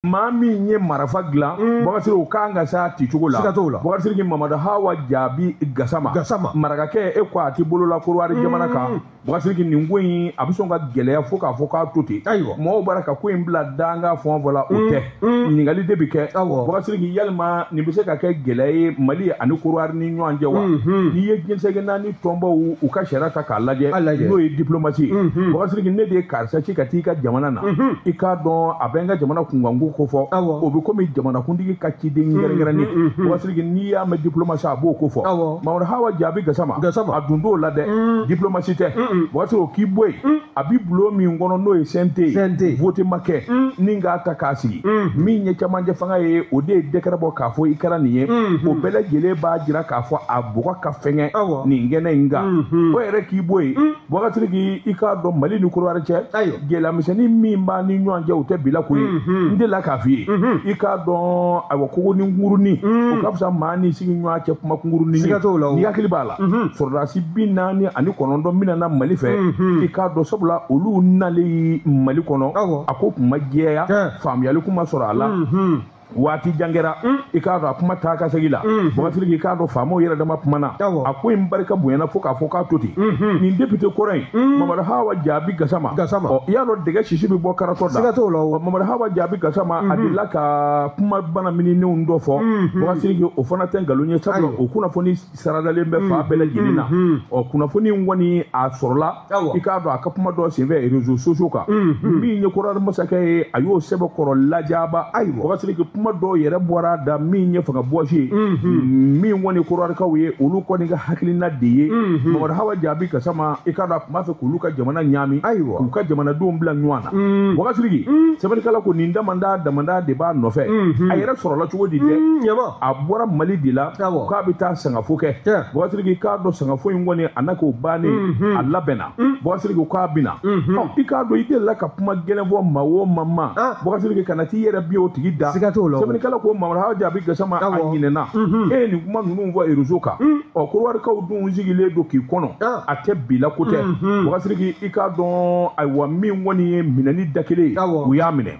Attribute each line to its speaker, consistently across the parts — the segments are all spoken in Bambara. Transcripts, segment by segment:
Speaker 1: maa min ye marafa dilan mm. bakasiriki o kan ka s'a ti cogo la bakasiriki mamadu hawa jaabi gasama marakakɛ e ko a ti bolo la korowari mm. jamana kan bakasiriki nin ko in a bɛ sɔn ka gɛlɛya fo k'a fɔ k'a to ten ayiwa mɔgɔw b'a ka ko in bila danga fɔn fɔ la o mm. tɛ ɲininkali de bɛ kɛ bakasiriki yalima nin bɛ se ka kɛ gɛlɛya ye mali ani korowari ni ɲɔgɔn cɛ wa mm-hmm. n'i ye diɲɛ seleke naani tɔnbaw u ka sariya ta k'a lajɛ n'o ye diplomasi ye bakasiriki ne de ye karisa ci ka taa i ka jamana na i k'a dɔn a bɛ n ka jamana kunkanko ko fɔ o bɛ komi jamanakuntigi ka ciden kɛrɛnkɛrɛnnen bakasiriki n'i y'a mɛn diplomasi a b'o ko fɔ mamadu hawa jaabi gasama a dun t'o la dɛ diplomasi tɛ bakasiriki o k'i bɔ yen a bi bulon min kɔnɔ n'o ye CNT ye vote ma kɛ ni k'a ta k'a sigi min ye cɛmancɛ fanga ye o de ye dɛkɛrɛ bɔ k'a fɔ i kɛra nin ye o bɛɛ lajɛlen b'a jira k'a fɔ a bɔgɔ ka fɛgɛn Awɔ. nin kɛnɛ in kan Mhm. o yɛrɛ k'i bɔ yen bakasiriki i k'a dɔn mali ni korowari cɛ Ayiwa. gɛlɛyamisɛnnin min b'a ni ɲɔgɔn cɛ o tɛ bi la ko ye Mhm. n delila k'a f'i ye Mhm. i k'a dɔn ayiwa kogonin kunkurunin o ka fisa maa ni sigiɲɔgɔn cɛ kuma kunkurunin ye. Siga t'o la o. n'i hakili b'a la Mhm. sɔrɔdasi bi naani ani kɔnɔntɔn min nana mali fɛ Mhm. i k'a dɔn sabula olu nalen mali kɔnɔ Awɔ. a ko kun ma jɛya Tiɲɛ. faamuyali kun ma sɔrɔ a la Mhm. waati jan kɛra mm. i k'a dɔn a kuma taa ka segin la mm. bakasiriki i k'a dɔn faamaw yɛrɛ dama kumana a ko in barika bonyana fo k'a fɔ k'a to ten mm-hmm. nin depite kɔrɔ in mm. mamadu hawa jaabi gasama ɔ i y'a dɔn dɛgɛ sisi bɛ bɔ karatɔ da ɔ mamadu hawa jaabi gasama a mm-hmm. delila ka kuma bana mininenw dɔ fɔ bakasiriki mm-hmm. o fana tɛ nkalon ye sabula o kunnafoni saradalen bɛ fan bɛɛ lajɛlen na ɔ kunnafoni in kɔni a sɔrɔla i k'a dɔn a ka kuma dɔ senfɛ réseaux sociaux kan min ye korowari masakɛ ye a y'o sɛbɛkɔrɔ lajaba ayi bakasiriki kuma dɔw yɛrɛ bɔr'a da min ye fanga bɔsi ye min kɔni korowarikaw ye olu kɔni ka hakilina de ye mamadu hawa jaabi gasama i k'a dɔn a tun b'a fɛ k'olu ka jamana ɲaami ayiwa k'u ka jamanadenw bila ɲɔgɔn na bakasiriki sɛbɛnnikɛla ko nin damanda damanda de b'a nɔfɛ a yɛrɛ sɔrɔla cogo di dɛ a bɔra mali de la k'a bɛ taa sangafo kɛ bakasiriki i k'a dɔn sangafo in kɔni a n'a k'o bannen mhm. a labɛnna mm. bakasiriki k'a bɛ na mhm. i k'a dɔn i delila ka kuma gɛlɛn fɔ maa o maa ma ah. bakasiriki kana t'i yɛrɛ bin o tigi da sɛbɛnnikɛla ko mamadu hawa jaabi gasama a ɲinɛna mhm. e ye nin kuma ninnu fɔ réseau kan mm. ɔ korowarikaw dun sigilen don k'i kɔnɔ ah. a tɛ bi la ko tɛ bakasiriki i k'a dɔn ayiwa min kɔni ye minɛni da kelen ye u y'a minɛ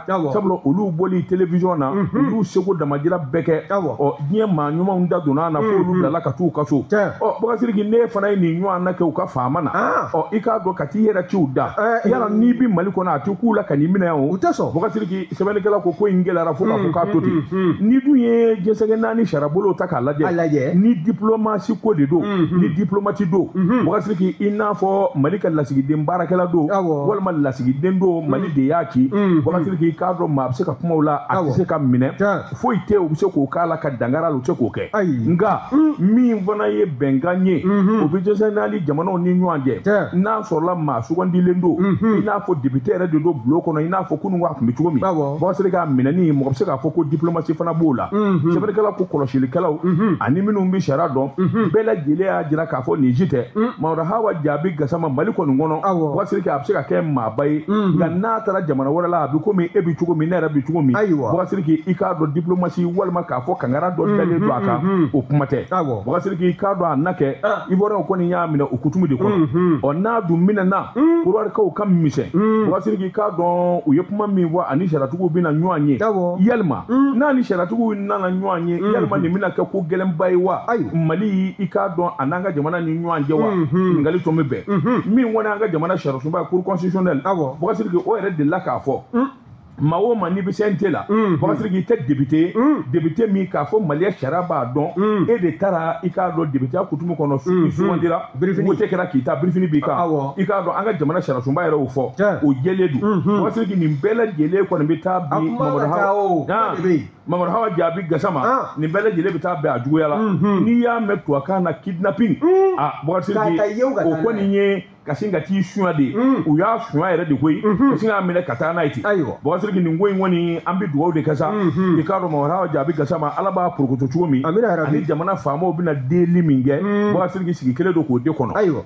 Speaker 1: sabula olu bɔli télévision na olu seko damajira bɛɛ kɛ ɔ diɲɛ maa ɲumanw da donna na fo olu bilala ka t'u ka so ɔ bakasiriki n'e fana ye nin ɲɔgɔnna kɛ u ka faama na ɔ i k'a dɔn ka t'i yɛrɛ ci u da yala n'i bɛ mali kɔnɔ a tɛ k'u la ka n'i minɛ yan o
Speaker 2: bakasiriki
Speaker 1: sɛbɛnnikɛla ko ko in gɛlɛyara fo k'a fɔ k'a to ten n'i dun ye diɲɛ seleke naani sariyabolo ta k'a lajɛ ni diplomasi ko de don ni diplomati don bakasiriki i n'a fɔ mali ka lasigiden baarakɛla don walima lasigiden don mali de y'a ki Boubacar Siriki i k'a dɔn maa a bɛ se ka kuma o la a tɛ se ka minɛ foyi tɛ u bɛ se k'o k'a la ka dankari a la u tɛ se k'o kɛ nka min fana ye bɛnkan ye o bɛ diɲɛ seleke naani jamanaw ni ɲɔgɔn cɛ n'a sɔrɔla maa sugandilen don i n'a fɔ député yɛrɛ de don bulon kɔnɔ i n'a fɔ kunun a tun bɛ cogo min Boubacar Siriki a minɛni mɔgɔ bɛ se k'a fɔ ko diplomasi fana b'o la sɛbɛnnikɛlaw ko kɔlɔsilikɛlaw ani minnu bɛ sariya dɔn bɛɛ lajɛlen y'a jira k'a fɔ nin si tɛ Mamadu Hawa Jaabi Gasama Mali kɔni kɔnɔ Boubacar a bɛ se ka kɛ maa ba ye nka n'a taara jamana wɛrɛ la a bɛ komi e bɛ cogo min ne yɛrɛ bɛ cogo min Ayiwa. Boubacar Siriki i k'a dɔn diplomasi walima k'a fɔ kangara dɔ dalen don a kan o kuma tɛ Awɔ. Boubacar Siriki i k'a dɔn a na kɛ Ivoiriyɛnw kɔni y'a minɛ o kutumu de kɔnɔ ɔ n'a dun minɛna Kɔdiwarikaw ka misɛn Boubacar Siriki i k'a dɔn u ye kuma min fɔ ani sariyatigiw bɛna ɲɔgɔn ye Awɔ. yalima n'a ni sariyatigiw nana ɲɔgɔn ye yalima nin bɛna kɛ ko gɛlɛnba ye wa Ayiwa. Mali i k'a dɔn a n'an ka jamana ni ɲɔgɔn cɛ wa ɲininkali tun bɛ bɛn min kɔni an ka jamana sariya sunba cour constitutionnelle awɔ Boubacar Siriki o yɛrɛ delila k'a fɔ hmm. maa o maa n'i bɛ CNT la hmm. Boubacar Siriki i tɛ député ye hmm. député min k'a fɔ maliya sariya b'a dɔn e de taara i k'a dɔn députéya kutumu kɔnɔ i sugandira wote kɛra k'i ta birifini b'i kan i k'a dɔn an ka jamana sariyasunba yɛrɛ y'o fɔ o jɛlen don Boubacar Siriki nin bɛɛ lajɛlen kɔni bɛ taa bi Mamadu Hawa Mamadu Hawa Jaabi Gasama ah. nin bɛɛ lajɛlen bɛ taa bɛn a juguya la n'i y'a mɛn tubabukan na kidnapping a ah, Boubacar Siriki o kɔni ye ka sin ka t'i suɲa de mm. u y'a suɲa yɛrɛ de koyi mm-hmm. ka sin k'a minɛ ka taa n'a ye ten Boubacar Siriki nin ko in kɔni an bɛ dugawu de kɛ sa mm-hmm. i k'a dɔn Mamadu Hawa Jaabi Gasama Ala b'a porokoto cogo min ani jamana faamaw bɛna delili min kɛ Boubacar mm. Siriki sigi kɛlen don k'o de kɔnɔ